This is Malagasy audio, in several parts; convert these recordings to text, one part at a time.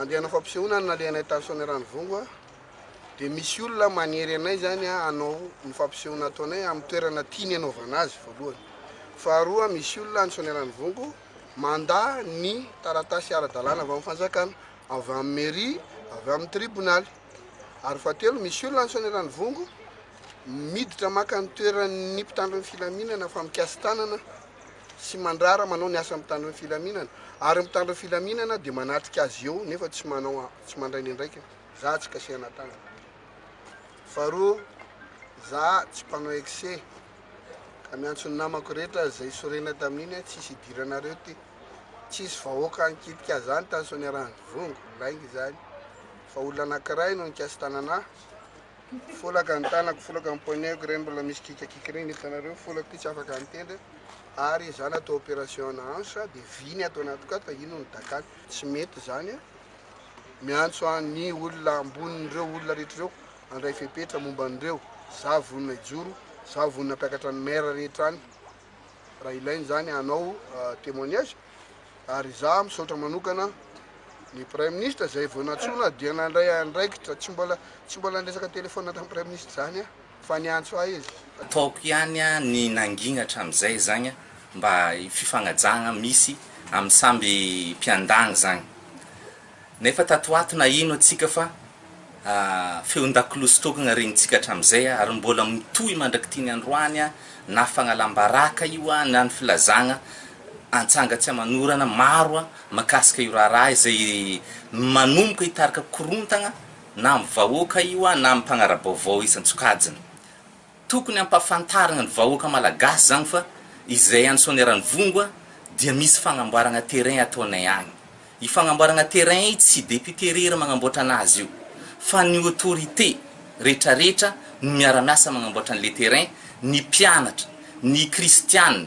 Andiana fampisehoana ny nalehanay tany Soanierano Vongo a, dia misy olona manery anay zany hanao ny fampisehoana ataonay amin'ny toerana tiany hanaovana azy voalohany. Faharoa misy olona any Soanierano Vongo mandà ny taratasy ara-dalàna avy amin'ny fanjakana, avy amin'ny mairie, avy amin'ny tribonaly. Ary fahatelo misy olona any Soanierano Vongo Miditra maka ny toeran'ny mpitandro ny filaminana fa mikasi-tanana sy mandrara manao ny asan'ny mpitandro ny filaminana ary ny mpitandro ny filaminana dia manatrika azy eo nefa tsy manao tsy mandray ny andraikiny. Za tsy kasihana tanana. Faharoa, za tsy mpanao excès ka miantso ny namako rehetra izay sorena tamin'iny hoe tsisy hidiranareo ty. Tsisy vahoaka nikitika zany tany Soaniaranjovongo, lainga izany fa olona anankiray no nikasi-tanana ahy. Folaka ny tanako, folaka ny poignetko ireny mbola misy kikakika ireny hitanareo, folako ity tsy afaka mitendry ary izaho natao opération ana hanche dia vy ny ato anatiko ato fa ino ny dakany, tsy mety izany a! miantso aho ny olona ambonin'ireo olona rehetra ireo handray fepetra momba an'ireo, izaho vonona hijoro, izaho vonona hampiakatra ny maire rehetra any. raha ilaina izany hanao témoignage ary izaho misaotra manokana ny praiminisitra izay vao nantsoina dia nandray andraikitra tsy mbola tsy mbola niresaka telefona tamin'ny praiminisitra izany aho fa niantso ahy izy ataoko ihany ny nangina hatramin'izay izany mba fifanajana misy amin'ny samby mpiandany izany Nefa tato ho ato na ino antsika fa feon-dakolosy sy tôkagna regnintsika hatramin'izay ary mbôla mitohy mandrak'ity ny androany na fagnalam-baraka io na ny filazagna antsanga tsy aman'orana maro makasika io raharaha izay manomboka hitarika korontagna na amin'ny vahoaka io na amin'ny mpanara-baovao isan-tsokajiny. Tokony ampafantarina ny vahoaka malagasy zany fa izay any Soaniaranivongo a dia misy fagnamboaragna terrain ataonay agny. I fagnamboaragna terrain i tsy député irery magnamboatra anazy io fa ny autorité retraretra no miaramiasa magnamboatra anle terrain, ny mpianatra, ny kristiana,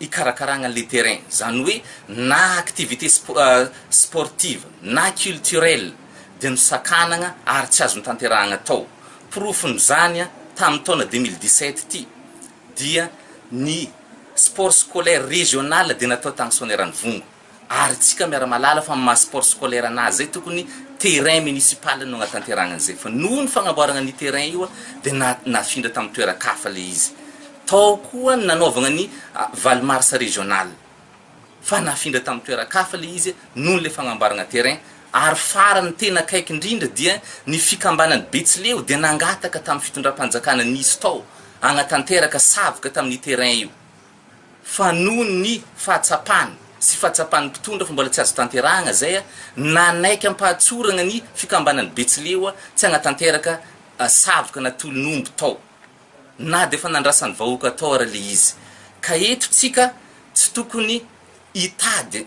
hikarakaragna le terrain, zany hoe na activité sportive na culturel dia nosakanagna ary tsy azo notanterahagna tao. Porofon'izany, tamin'ny taona deux mille dix-sept ity dia ny sport scolaire régional dia natao tagny Soanierana Ivongo. ary tsika miara malala fa maha sport scolaire anazy zay tokony terrain municipal no agnatanterahagna anizay fa noho ny fagnamboaragna anio terrain io de na nafindra tamy toerakafa le izy tao koa ny nanaovagna ny valo mars regional fa nafindra tamy toerakafa le izy noho le fagnamboaragna terrain ary farany tena akaiky indrindra dia ny fikambanany betsileo dia nangataka tamy fitondrampanjakana nisy tao agnatanteraka savoka tamy ny terrain io fa noho ny fahatsapany sy fahatsapan'ny mpitondra fa mbola tsy azo tanterahagna izay, nanaiky am-pahatsoragna ny fikambanan'ny Betsileo tsy hagnatanteraka savoka na tolon'omby tao, na dia efa nandrasan'ny vahoaka tao ary le izy. Ka eto tsika tsy tokony hitady.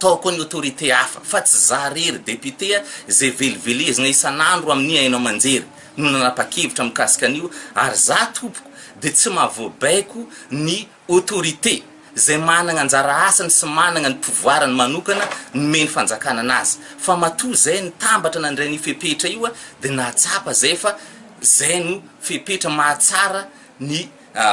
Tokony autorité hafa fa tsy za re ry député a, izay velivelezina isan'andro amin'ny haino aman-jery no nanapa-kevitra mikasika an'io ary za tompoko dia tsy mahavoabaiko ny autorité izay managna anjara asany sy managna ny pouvoirany manokana nomeny fanjakana anazy fa matoa izay nitambatra nandray an'io fepetra io dia nahatsapa izay fa izay no fepetra mahatsara ny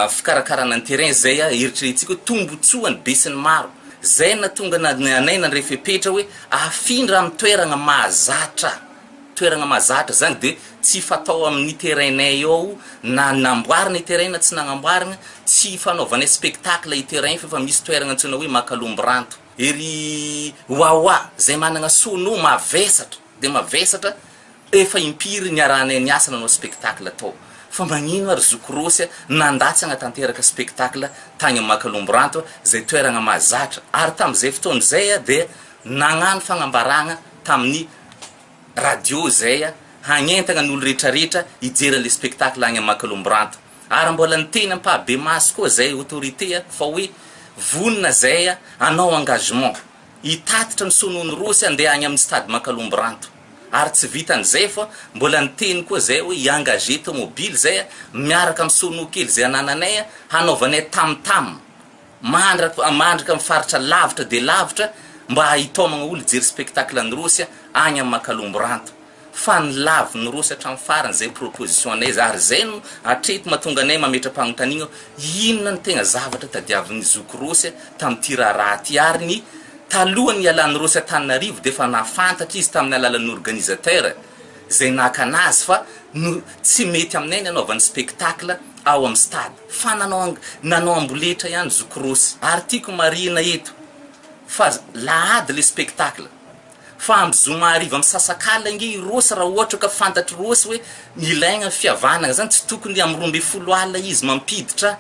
fikarakarana ny terrain zay a eritreretintsika hoe tombotsoany besinimaro zay natonga na anay nandray fepetra hoe afindra am toeragna mahazatra toeragna mahazatra zany de tsy fatao aminy terrain nay ao na namboarina i terrain na tsy nagnamboarigna tsy fanaovanay spectacle i terrain fa efa misy toeragna antsoina hoe makalomboranto ery wawa zay managna sono mavesatra de mavesatra Efa impiry niarahanay niasa nanao spectacle tao fa magnino ary zoky Rosy a nandatsa hagnatanteraka spectacle tagny Makalomboranto zay toeragna mahazatra ary tamizay fotoagna zay a dia nagnano fagnambaragna tamin'ny radio zay a hagnentagna ny olo retraretra hijery anle spectacle agny Makalomboranto ary mbola niteny ampabemaso koa zay autorité a fa hoe vonona zay a hanao engagement hitatitra ny soa nohon'i Rosy andeha agny aminy stade Makalomboranto. Ary tsy vitan'izay fa mbola niteny koa zay hoe hi-engager tomobily zay miaraka amin'ny sono kely zay anananay hanaovanay tam tam mandraka mandraka amin'ny faritra lavitra dia lavitra mba hitaomagna olo hijery spectacle an'i Rossy agny amin'ny Makalomboranto fa ny lavin'i Rossy hatramin'ny farany zay proposition anay zay ary zay no hatreto mahatonga anay mametra-pagnontaniagna inona no tegna zavatra tadiavin'ny zoky Rossy tamin'ity raharaha ty ary ny Talohan'ny hialany Rossy Antananarivo dia efa nahafantatra izy tamin'ny alalan'ny organisateur izay nakana azy fa no tsy mety aminay ny hanaovany spectacle ao amin'ny stade fa nanao nanao amboletra ihany zoky Rossy ary tiako marihina eto fa lahady ilay spectacle fa amin'ny zoma hariva misasakalina ange i Rossy raha ohatra ka fantatr'i Rossy hoe ilaigna ny fihavanagna izany tsy tokony amin'ny roa ambin'ny folo alina izy mampiditra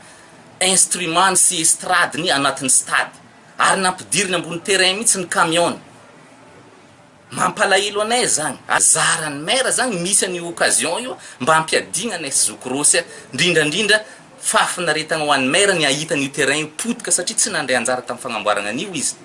instrument-ny sy estradiny anatin'ny stade Ary nampidiriny ambony terrain mihitsy ny camion-ny. Mampalahelo anay izany. Zaran'ny maire izany misy an'io occasion io mba hampiadiana anay sy zoky Rossy a! Indrindra indrindra, fahafinaretana ho an'ny maire ny hahita an'io terrain io potika satria tsy nandray anjara tamin'ny fagnamboaragna an'io izy.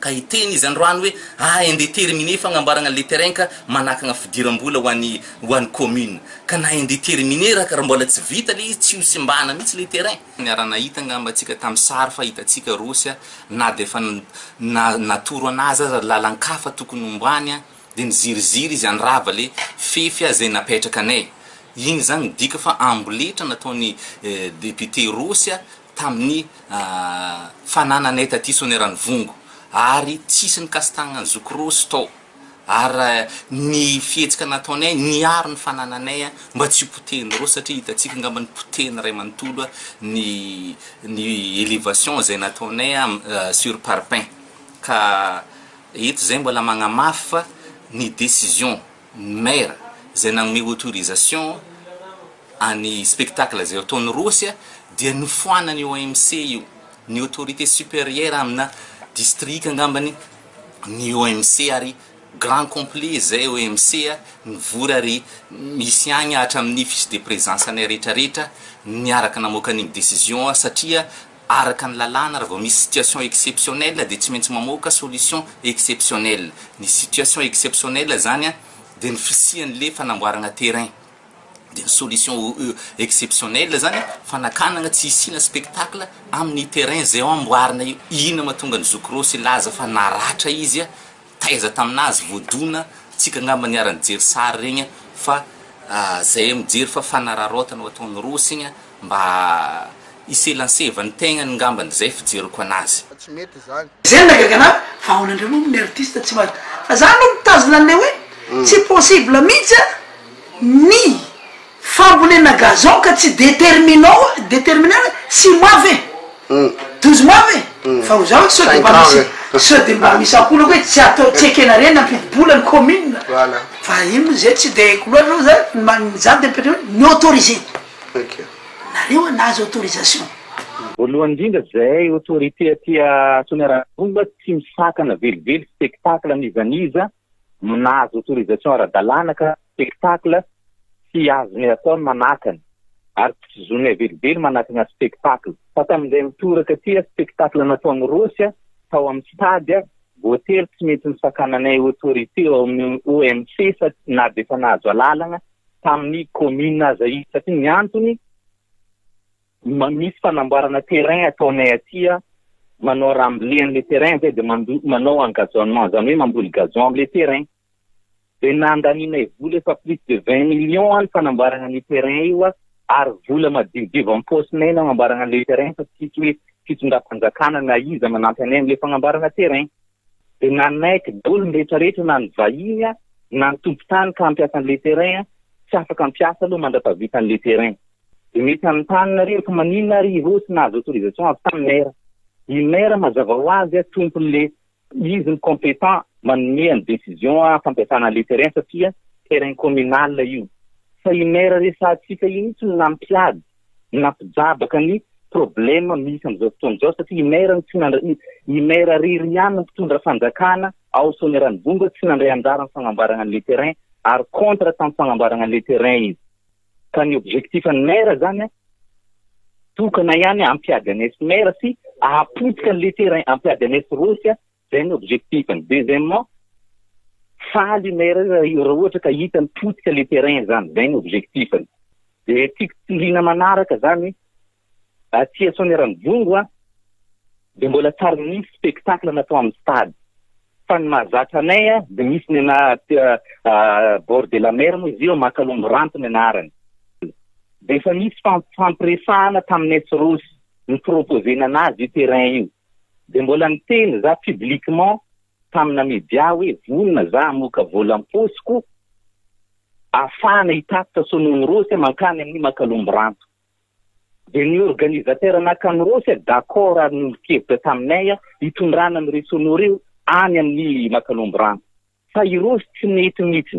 Ka hiteny izy androany hoe a ende terminer fagnamboaragna an'le terrain ka manakagna fidiram-bola ho an'ny ho an'ny commune. Ka na ende terminer ra ka ra mbola tsy vita le izy tsy ho simbana mihitsy le terrain. Niara-nahita angamba antsika tamin'ny sary fahitantsika Rosy na dia efa natoro an'azy aza lalan-kafa tokony hombany dia niziriziry izy handrava ilay fefy izay napetrakanay. Iny izany midika fa amboletra nataon'ny depiote Rosy tamin'ny fanananay taty Soanieranivoango ary tsisy nikasi-tagnan'ny zoky Rosy tao. ary ny fihetsika nataonay niaro ny fanananay mba tsy ho potehin'ny roa satria hitantsika angamba ny potehin'ny ray manontolo ny ny elevation izay nataonay sur parpaing ka eto izay mbola magnamafy fa ny decision ny maire izay nanome autorisation any spectacle izay ataon'ny rossy dia nofoanan'ny OMC io ny autorité supérieur amina district angambany ny OMC ary grand complet zay OMC nivory ary misy agny hatramin'ny fiche de présence anay rehetra rehetra niaraka namoaka an'igny décision satria araka ny lalàna raha vao misy situation exceptionnelle dia tsy maintsy mamoaka solution exceptionnelle, ny situation exceptionnelle zany dia ny fisian'le fanamboaragna terrain. dia solution exceptionnelle zany fanakanana tsy hisiana spectacle amin'ny terrain zay amboarina io ina matonga ny zoky rosy laza fa naratra izy a taiza taminazy voadona tsika angamba niara nijery sary regny fa zay mijery fa fanararaotana ho ataon'ny rosy igny Mba hiselanseva ny tegnany ngambany zay fijeriko anazy. Tsy mety izany. Zay no nagaga anah fa aona ndray moa ny artiste tsy mahay fa za aloha mitazona anle hoe tsy possible mihitsy a ny fambolena gazon ka tsy determinao determiner hoe six mois ve douze mois ve fa ho zaho sao de mba misy sao de mba misy ampolako hoe tsy atao tsy ekena re nampidi-bola ny commune fa iny moa zay tsy de haiko loatra fa za ny za de mipetra hoe ny autoriser. Nareo an nahazo autorisation. Voalohany indrindra zay autorité aty Soanierana-Ambohimba tsy misakana velively spectacle n'iza n'iza nahazo autorisation ara-dalàna ka spectacle tsy azony atao ny manakana ary tsy zonay velively manakana spectacle fa tamin'izay mitoraka aty spectacle natao am Rossy tao am stade voatery tsy mety nisakananay autorité ao amin'ny OMC fa na dia efa nahazo alalagna tamin'ny commune aza izy satria ny antony misy fanamboarana terrain ataonay aty manao raha amble an'le terrain zay de manao en gazonnement zany hoe mamboly gazon amle terrain de nandanianay vola efa plus de vingt millions any fanamboarana an'io terrain io a ary vola madiodio am paosinay nanamboarana an'le terrain fa tsisy hoe fitondram-panjakana na iza manampy anay amle fagnamboarana terrain dia nanaiky dolo ny rehetra rehetra na ny vahiny na ny tompon-tany ka hampiasa an'ilay terrain tsy afaka hampiasa aloha mandrapahavita an'ilay terrain dia mety hanontany nareo fa maninona ary ireo tsy nahazo autorisation avy tamin'ny maire ny maire mazava ho azy a tompon'ilay izy ny compétent manome ny décision a fampiasana an'ilay terrain satria terrain communal io fa i maire resahantsika iny tsy no nampiady nampijabaka ny problème misy amin'izao fotoana izao satria i maire no tsy nandray i maire irery ihany no mpitondra fanjakana ao Soanieranivohitra tsy nandray anjara ny fagnamboarana an'ilay terrain ary contre tamin'ny fagnamboarana an'ilay terrain izy ka ny objectif an'ny maire zany a tokana ihany ampiady an'esy maire sy ahapotika an'ilay terrain ampiady an'esy rosy a Zay ny objectif-ny. Deuxièmement, faly i maire io raha ohatra ka hitany potika le terrain zany. Zay ny objectif-ny. De tiako toriana manaraka zany, aty à Soanierambongo a, de mbola tsy ary nisy spectacle natao amin'ny stade. Fa ny mahazatra anay a, de misy ny anà aty à bord de la mer moa izy io, Makalombo Ranto ny anarany. De efa nisy fampirefahana tamin'ny SROS, ni-proposer-na anazy io terrain io. Dia mbola niteny za publiquement tamina media hoe vonona za hamoaka vola am-paosiko ahafahana hitatitra Sonono Rossy mankany amin'ny Makalombo Ranto. Dia ny organisateur nakan'i Rossy d'accord ary niolon-kevitra taminay hitondrana an'ireo Sonoa ireo any amin'ny Makalombo Ranto. Fa i Rossy tsy nety mihitsy.